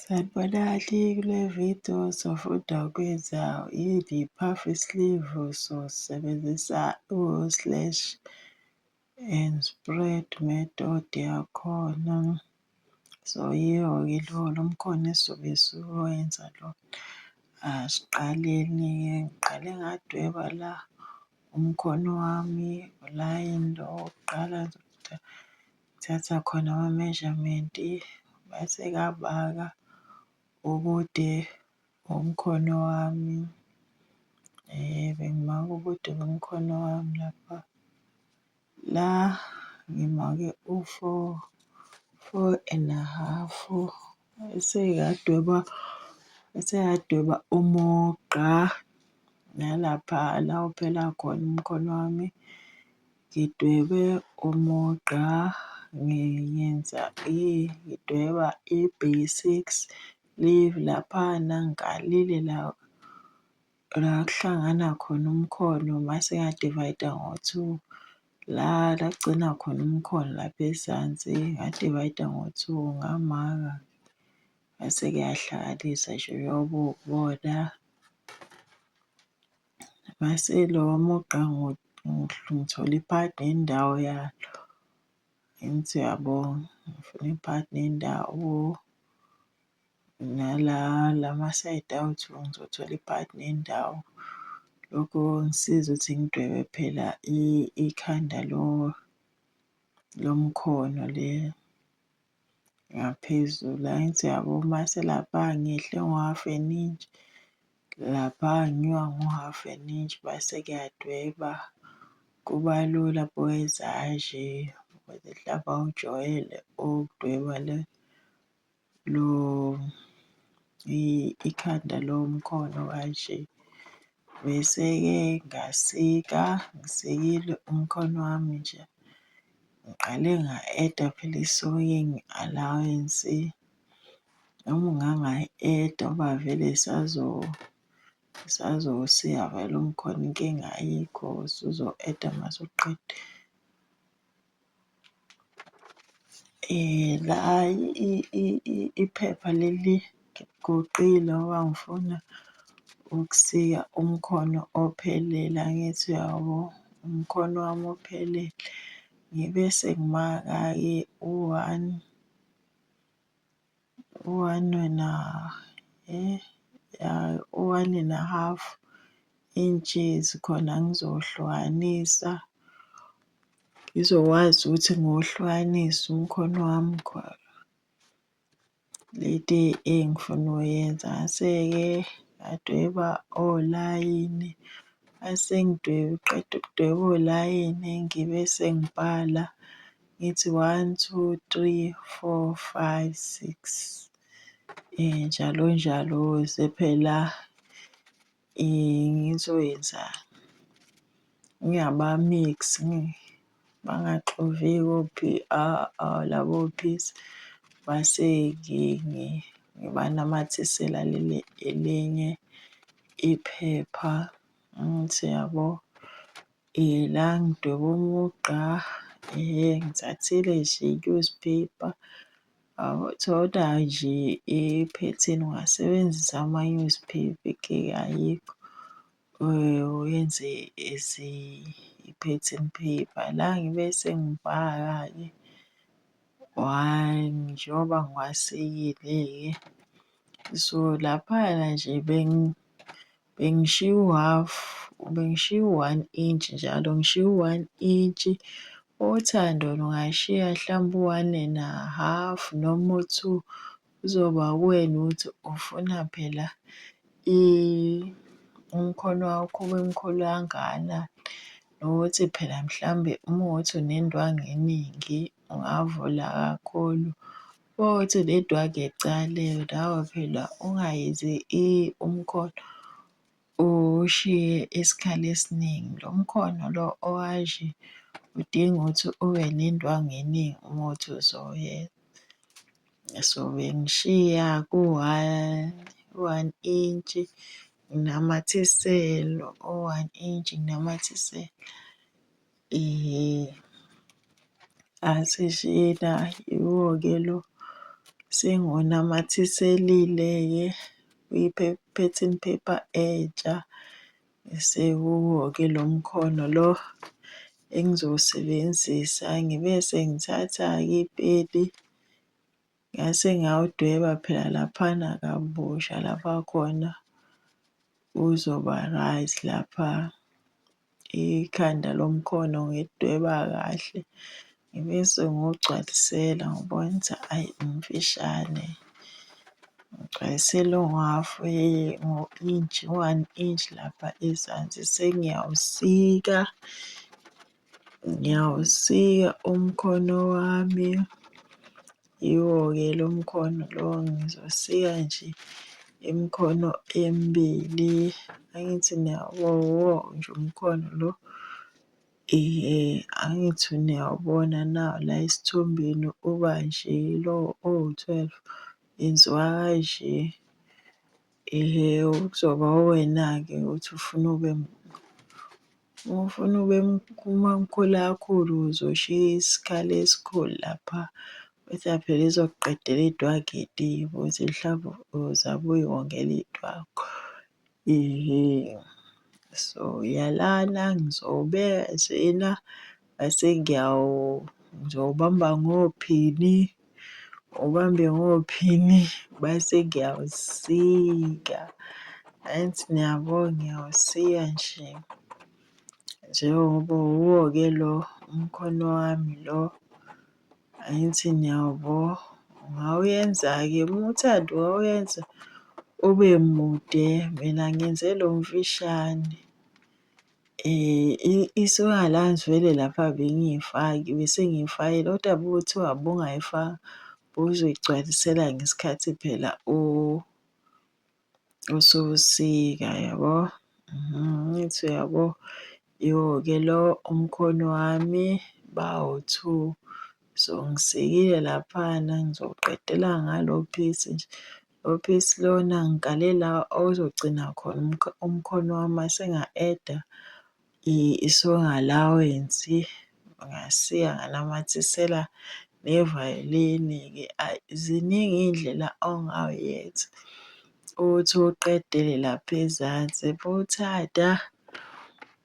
Sanibona kule video sofunda ukwenza yini puff sleeve sosebenzisa u-slash and spread method yakhona. So yiyo-ke lona umkhono esizobe siwenza lo. Asiqaleni-ke ngiqale ngadweba la umkhono wami ulayini lo wokuqala Thatha khona ama-measurement mase ngabala ubude bomkhono wami. Bengimaka ubude bomkhono wami lapha. La ngimake u-four, four and a half. Mese ngiyadweba, mese ngiyadweba umugqa nalapha la uphela khona umkhono wami. Ngidwebe umugqa, ngiyenza ngidweba i-basics, leave laphana ngikalile la la kuhlangana khona umkhono mase ngiya-divide-a ngo-two. La la kugcina khona umkhono lapha ezansi ngiya-divide-a ngo-two ngamaka mase kuyahlakalisa nje uyobe uwubona. Ngase lowa mugqa ngithole i-part nendawo yalo. Angithi uyabonga, ngifuna i-part nendawo. Nala la masayidi awethu ngizothola i-part nendawo. Lokho kongisiza ukuthi ngidwebe phela ikhanda lomkhono le. ngaphezulu angithi yabo mase lapha ngihle ngo-half an inch lapha ngiwa ngo-half an inch base kuyadweba kuba lula boys aje ukuze mhlawumbe awujwayele ukudweba le lo ikhanda lomkhono kanje. Bese-ke ngasika, ngisikile umkhono wami nje, ngiqale nga-eda phela i-sewing allowance. Noma ungangayi-eda ngoba vele sazosika vele umkhona inkinga ayikho, usuzo-eda uma usuqeda. Eh, la iphepha leli ngiguqile ngoba ngifuna ukusika umkhono ophelele, angithi uyabo? Umkhono wami ophelele. Ngibe sengimaka-ke u-one, one and a eh one and a half inches khona ngizohlukanisa ngizokwazi ukuthi ngohlukanisa umkhono wami khona leti engifuna uyenza ngase-ke ngadweba olayini asengidweba qeda ukudweba olayini ngibe sengibhala. Ngithi one, two, three, four, five, six um njalo njalo sephela ngizoyenza ngingabamix bangaxovi ko-P_R labo peace mase ngibanamathisela leli elinye iphepha ngithi yabo La ngidweba umugqa ngithathile nje i-newspaper thola nje iphethini ungasebenzisa ama-newspaper ayikho uyenze as i-pattern paper. La ngibe sengibhala-ke one njengoba ngiwasikile-ke so laphayana nje . Bengishiya uhhafu, bengishiya u-one inch njalo, ngishiya u-one inch. Othando lungayishiya hlampe u-one and a half noma u-two, kuzoba uwena ukuthi ufuna phela umkhono wakho ube mkhulu kangana. Nokuthi phela mhlambe uma kuwukuthi unendwangu eningi, ungavula kakhulu, Uthi nedwa ke cale nawe phela ungayenzi i umkhono ushiye isikhala esiningi lo mkhono lo owashi udinga ukuthi ube nendwangu eningi uma uthi uzoyenza so bengishiya ku one u one inch nginamathisele u one inch nginamathisele. Eh, asishila yiwo-ke lo sengonamathiselile-ke kwi-pattern paper entsha sekuwo-ke lo mkhono lo engizowusebenzisa ngibe sengithatha-ke ipeni ngase ngawudweba phela laphana kabusha lapha khona kuzoba right lapha. ikhanda lomkhono ngidweba kahle ngibe sengigcwalisela ngoba wenza ayi umfishane ngigcwalisela ongu-half inch u-one inch lapha ezansi sengiyawusika ngiyawusika umkhono wami. Yiwo-ke lo mkhono lo ngizosika nje imikhono emibili angithi niyawubowo nje umkhono lo angithi niyawubona na la esithombeni uba nje lo owu-twelve yenziwa kanje. Ihe ukuzoba uwena-ke uthi ufuna ube uma ufuna ube umamkhulu kakhulu uzoshiya isikhala esikhulu lapha uthi phela izokuqedela idwakiti uthi mhlawumbe uzabe uyiwongela idwakho ihe so uyalana ngizobeka njena Ngase ngiyawubamba ngophini, ubambe ngophini base ngiyawusika. Angithi niyabo ngiyawusika nje njengoba uwuwo-ke lo umkhono wami lo. Angithi niyawubo, ungawuyenza-ke uma uthanda ungawuyenza ube mude, mina ngenze lo mfishane. um isuka la ngivele lapha bengiyifaki bese ngiyifakela kodwa bekuthiwa bungayifaka bowuzoyigcwalisela ngesikhathi phela usubusika yabo. Mhm, ngithi uyabo iwo-ke lo umkhono wami bawu-two. So ngisikile laphana ngizowuqedela ngalo phisi nje Office lona ngiqale la okuzogcina khona umkhono wami mase nga-add-a i-song allowance, ngasiya nganamathisela nevayolini-ke. Ayi ziningi iy'ndlela ongawuyetha ukuthi uqedele lapha ezansi. Uma uthanda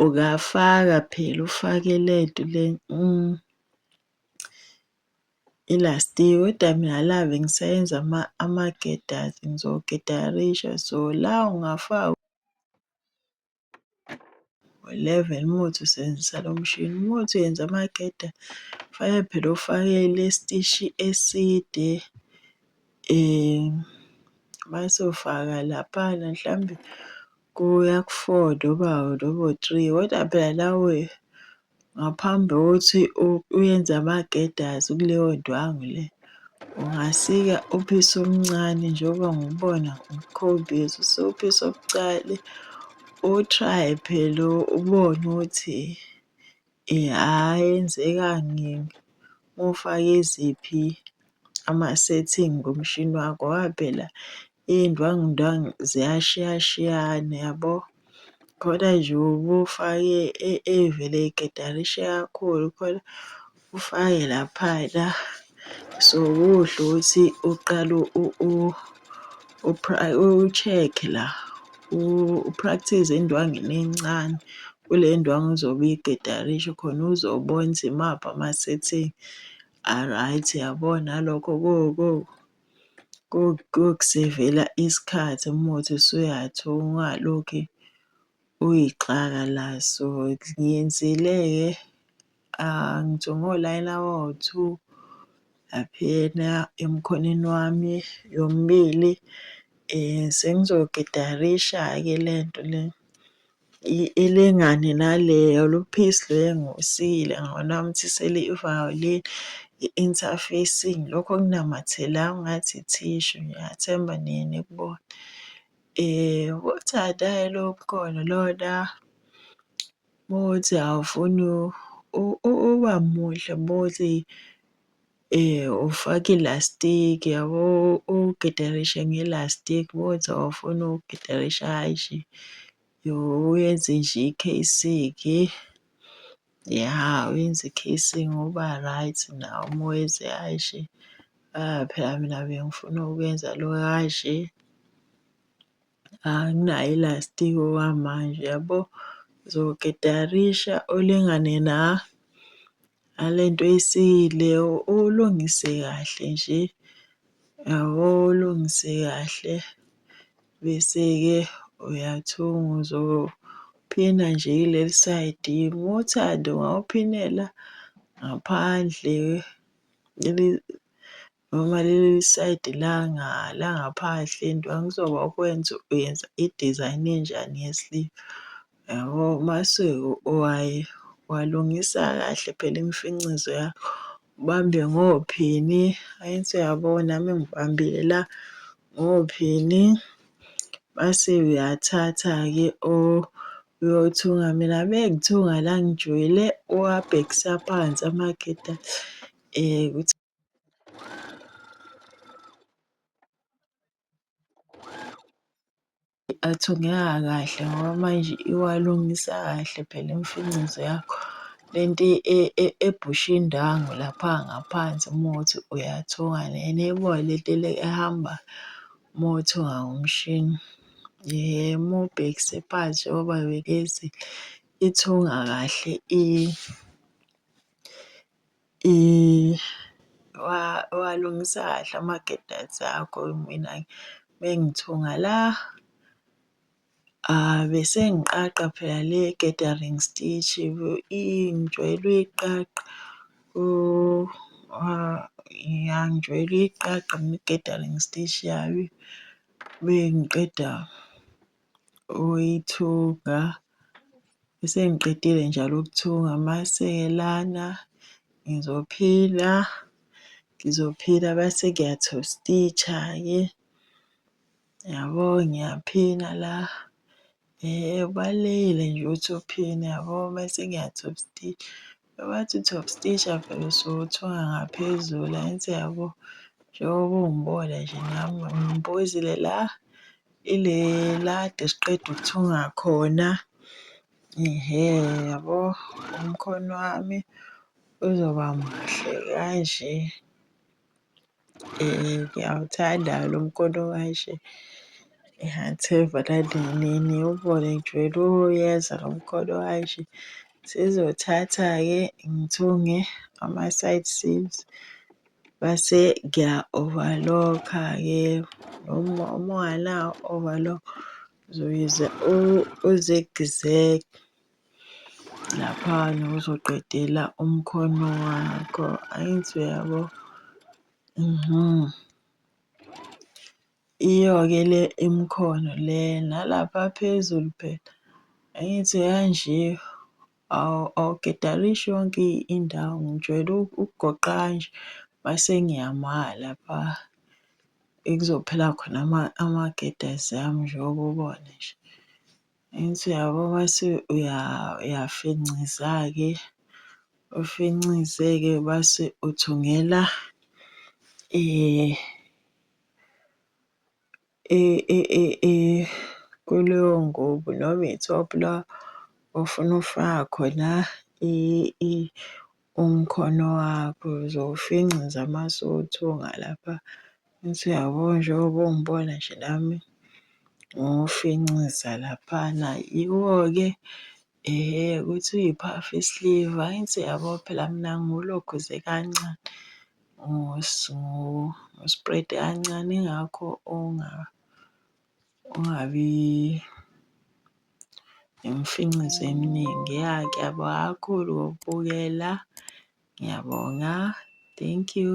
ungafaka phela ufake lento le . I-last kodwa mina love ngisayenza ama-gedas ngizogedalisha so la ungafaka ngo-eleven uma uthi usebenzisa lo mshini uma uthi uyenza amageda kufanele phela ufake isitishi eside mase ufaka laphana mhlawumbe kuya ku-four noma three kodwa phela nawe Ngaphambi kokuthi uyenze amagedazi kuleyo ndwangu le, ungasika uphisa omncane njengoba ngubona ngikhombisa, usuphisa obucale utraye phela ubone ukuthi yenzeka ngifake iziphi ama-setting ngomshini wakho ngoba phela iy'ndwangundwangu ziyashiyashiyana yabo. Khona nje ubufake evele igidarisha kakhulu khona ufake laphana. So, kuhle ukuthi uqale u-check-e la u-practise endwangini encane kule ndwangu ozobe uyigidarisha khona uzobona ukuthi imaphi ama-setting A-right yabo nalokho kokusevela isikhathi umuthi usuyathi ungalokhe uyixaka la. So, ngiyenzile-ke ngisho ngolayini abawu-two laphayana emkhonweni wami yomibili. Sengizokidarisha-ke le nto le. Ilingane naleyo luphisi luyengusile ngokunamthisela i-violin, i-interfacing lokho okunamathela ngathi ithishu ngiyathemba niye nikubone. Ubuthanda-ke lobu ubukhona lona uma kuwukuthi awufuni uba muhle uma kuwukuthi. Eh, ufake ilastiki yabo ugidarishe ngelastiki bothi awufuni ukugidarisha hhayi nje yo uyenze nje ikheyisiki ya uyenze ikheyisiki ngoba right nawo uma uyenze hhayi nje ah phela mina bengifuna ukuyenza lo hhayi nje Anginayo ilastiki okwamanje yabo. Uzoketarisha ulingane na nale nto oyisile, ulungise kahle nje, yabo ulungise kahle. Bese-ke uyathunga uzophina nje kuleli sayidi. Uma uthanda ungawuphinela ngaphandle . Noma leli side langa langaphandle into angizoba ukwenza uyenza i-design enjani ye-sleeve yabo masweko owaye walungisa kahle phela imfincizo yakho ubambe ngophini ayinso yabona nami ngibambile la ngophini base uyathatha-ke o uyothunga mina bengithunga la ngijwile uwabhekisa phansi amageda um athungeka kahle ngoba manje iwalungisa kahle phela imfinqizo yakho. Le nto ebhusha indwangu lapha ngaphansi uma ukuthi uyathunga lena ebona le nto le ehamba uma uthunga ngomshini. Uma ubhekise phansi njengoba ngibekezela, ithunga kahle . Walungisa kahle amaketayisi akho mina mengithunga la bese ngiqaqa phela le gathering stitch ngijwayele uyiqaqa ya ngijwayele uyiqaqa mina i-gathering stitch yami mengiqeda. uyithunga bese ngiqedile njalo ukuthunga mase lana ngizophila ngizophila bese ngiyathostitsha ke yabo ngiyaphina la eh ubalekile nje ukuthi uphina yabo mase ngiyathostitsha bathi uthostitsha phela usuke uthunga ngaphezulu angithi yabo njengoba ungibona nje nami ngibuzile la Ile la kade siqeda ukuthunga khona. Ihe yabo umkhono wami uzoba muhle kanje. Ngiyawuthanda lo mkhono kanje. Ngiyathemba nani nini ubone nje lo uyeza lo mkhono kanje. Sizothatha-ke ngithunge ama-side seams. Base ngiya overlock-a ke noma uma unganawo overlock uzoyize uzigizeg laphana uzoqedela umkhono wakho angithi uyabo mhm iyo-ke le imikhono le nalapha phezulu phela angithi kanje. Awu awugedarishi yonke indawo ngijwayele ukugoqa kanje mase ngiyama lapha ekuzophela khona amagedazi ami njengoba ubona nje. Angithi uyabo mase uyafinciza-ke, ufincize-ke mase uthungela . kuleyo ngubo noma i-top la ofuna ukufaka khona umkhono wakho, uzowufinca nje amasotho ngalapha. Angithi uyabona njengoba ungibona nje nami ngiwufinciza laphana. Yiwo-ke Ehhe ukuthi uyiphafu isliva ayi nsi yabo phela mina ngiwulokhuze kancane ngiwusprede kancane ingakho ungabi nemfincizo eminingi ya ngiyabonga kakhulu ngokubukela ngiyabonga thank you.